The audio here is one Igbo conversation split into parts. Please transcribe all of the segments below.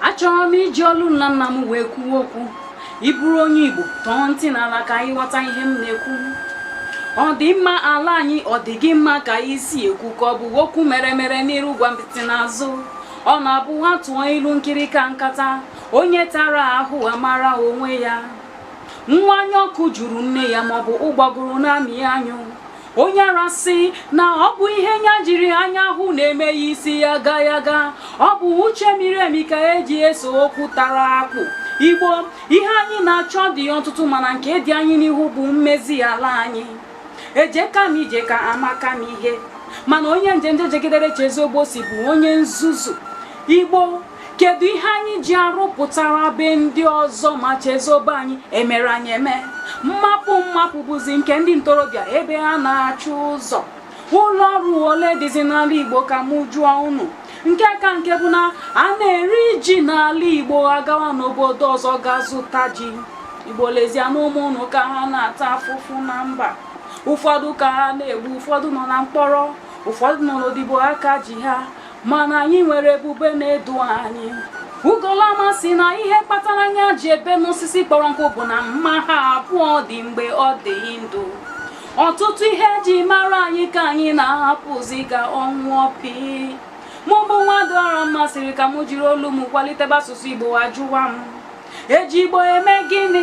achọrọ m iji olu nna nna m wee kwuo okwu ị bụrụ onye igbo tọọ ntị n'ala ka ị ghọta ihe m na-ekwu ọ dị mma ala anyị ọ dị gị mma ka i si ekwu ka ọ bụ okwu mere mere n'iru gwampịtị n'azụ ọ na-abụ a tụọ ilu nkịrịka nkata onye tara ahụ amara onwe ya nwa anya ọkụ jụrụ nne ya ma ọ bụ ụgbọgụrụ na-amị anyụ onye ara sị na ọ bụ ihe nya jiri anya hụ na-eme ya isi yaga yaga ọ bụ uche miri emi ka e ji eso okwu tara akpụ igbo ihe anyị na-achọ dị ọtụtụ mana nke dị anyị n'ihu bụ mmezi ala anyị ejeka m ije ka amaka m ihe mana onye njenje jegidere chezọ ebe o si bụ onye nzuzu igbo kedu ihe anyị ji arụpụtara be ndị ọzọ ma chezọ be anyị e mere anyị eme mmapụ mmapụ bụzi nke ndị ntorobịa ebe ha na-achọ ụzọ ụlọ ọrụ ole dịzi n'ala Igbo ka mụ jụọ unu nke ka nke bụ na a na-eri ji n'ala Igbo a gawa n'obodo ọzọ ga zụta ji Igbo lezienụ ụmụ unu ka ha na-ata afụfụ na mba ụfọdụ ka ha na-egbu ụfọdụ nọ na mkpọrọ ụfọdụ nọ n'odibo aka ji ha mana anyị nwere ebube na-edu anyị ugolama sị na ihe kpatara nya ji ebe n'osisi kpọrọ nkụ bụ na mma ha abụọ dị mgbe ọ dị ndụ ọtụtụ ihe e ji mara anyị ka anyị na-ahapụzi ka ọ nwụọ pịị mụ bụ nwadịọramma sịrị ka m jiri olu m kwalitebe asụsụ igbo ajụwa m e ji igbo eme gịnị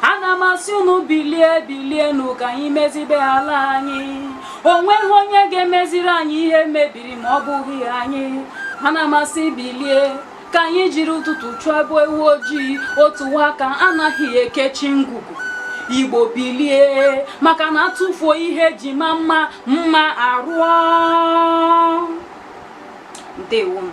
ana m asị unu bilie bilie nụ ka anyị mezibe ala anyị o nweghị onye ga-emeziri anyị ihe mebiri ma ọ bụghị anyị ana m asị bilie ka anyị jiri ụtụtụ chụba ewu ojii otu nwa aka anaghị ekechi ngwugwu igbo bilie maka na a tụfuo ihe e ji ama mma mma arụọ ndewonu